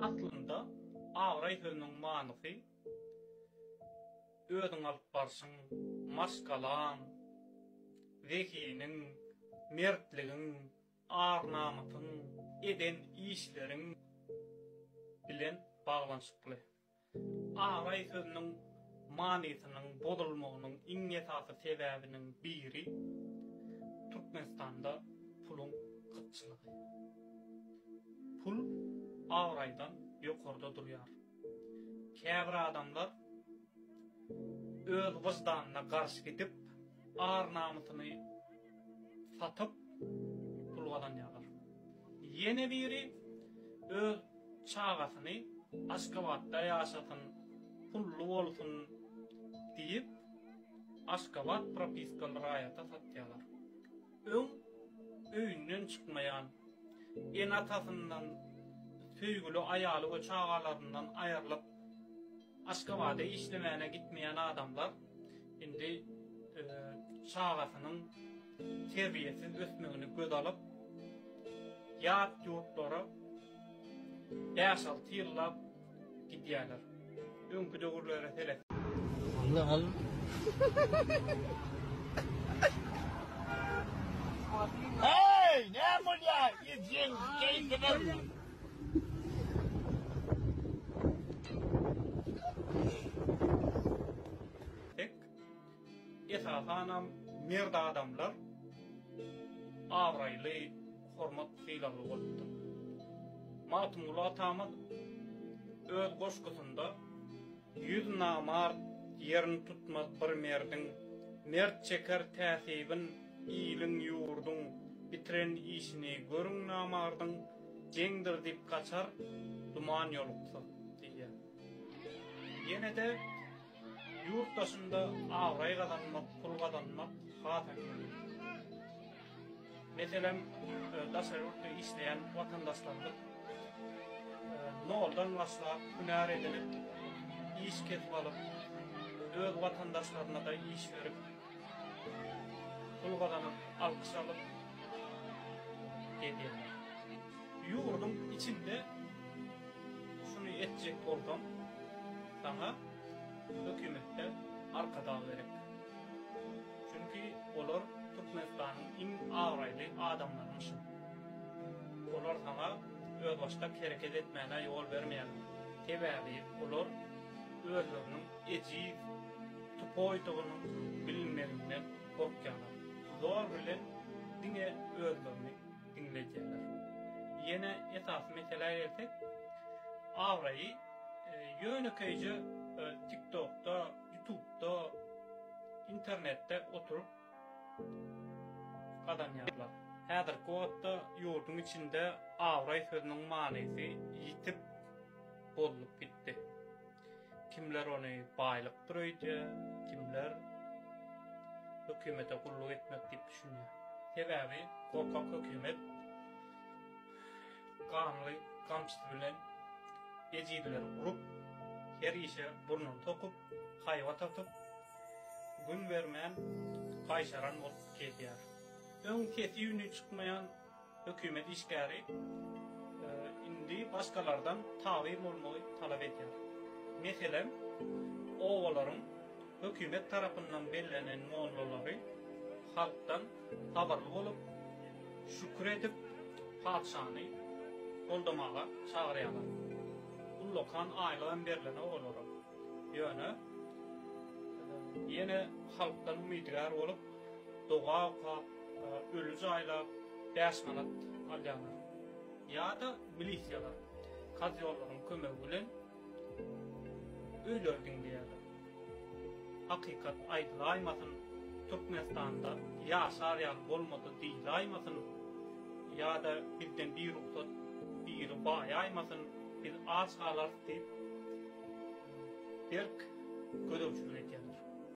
Aslynda, abraý sözüniň manysy özüň alyp barşyň, maşgalaň, zehiniň, mertligiň, ar-namysyň, eden işleriň bilen baglanyşykly. Agaý sözüniň manysynyň bozulmagynyň iň esasy sebäbiniň biri Türkmenistanda puluň gytçylygy. Pul abraýdan ýokarda durýar. Käbir adamlar öz wyždanyna garşy gidip, ar-namysyny satyp pul gazanýarlar. Ýene biri öz Çagasyny Aşgabatda ýaşasyn, pully bolsun diýip, Aşgabat propiskaly raýata satýarlar. Öň öýünden çykmaýan, ene-atasyndan, söýgüli aýaly we çagalaryndan aýrylyp, Aşgabada işlemäne gitmeýän adamlar indi çagasynyň terbiýesiz ösmegini göz alyp, ýat ýurtlara bäş-alty ýyllap gidýärler. Öňki döwürlere seret. Heý, näme bolýar? Ýigit, ýeňiş, keýpim. esasanam merd adamlar abraýly hormat sylagly bolupdyr. Magtymguly atamyz öz goşgusynda Ýüz namart ýerini tutmaz bir merdiň, Mert çeker täsibin iliň, ýurduň, Bitiren işini görüň namardyň, Jeňdir diýip gaçar, duman ýoluksa diýýär. Ýene-de ýurt daşynda abraý gazanmak, pul gazanmak has ähmiýetli. Meselem, daşary ýurtda işleýän watandaşlarymyz noldan başlap, hünär edinip, iş kesip alyp, öz watandaşlaryna-da iş berip, pul gazanyp, alkyş alyp gezýärler. Ýurduň içinde şuny etjek bolsaň, saňa hökümetde arkadag gerek. Çünki olar Türkmenistanyň iň abraýly adamlarymyşyn. Olar saňa özbaşdak hereket etmäne ýol bermeýärler. Sebäbi olar özleriniň ejiz, tupoýdygynyň bilinmeginden gorkýarlar. Zor bilen diňe özlerini diňledýärler. Ýene esasy meselä gelsek, abraýy ýönekeýje TikTokda, Ýutubda, internetde oturyp gazanýarlar. Häzirki wagtda ýurduň içinde abraý sözüniň manysy ýitip, bozulyp gitdi. Kimler ony baýlykdyr öýdýär, kimler hökümete gulluk etmek diýip düşünýär. Sebäbi gorkak hökümet Gamly gamçysy bilen ejizleri urup, her işe burnuny sokup, haýbat atyp, gün bermän gaýşaran bolup gezýär. Öň sesi-üni çykmaýan hökümet işgäri indi başgalardan tabyn bolmagy talap edýär. Meselem, obalaryň hökümet tarapyndan bellenen mollalary halkdan Sabyrly bolup, şükür edip, patyşany goldamaga çagyrýarlar. Ullakan aýlygam berlen olara. Ýöne ýene halkdan umydygär bolup, doga okap, öli jaýlap, bäş manat alýarlar. Ýa-da milisiýalar, kazýollaryň kömegi bilen. Öýler diňleýärler. Hakykat aýdylaýmasyn, Türkmenistanda ýaşar ýaly bolmady diýilaýmasyn, ýa-da bizden birugsat biri baýaýmasyn, biz aç galarys diýip, berk gözegçilik edýärler.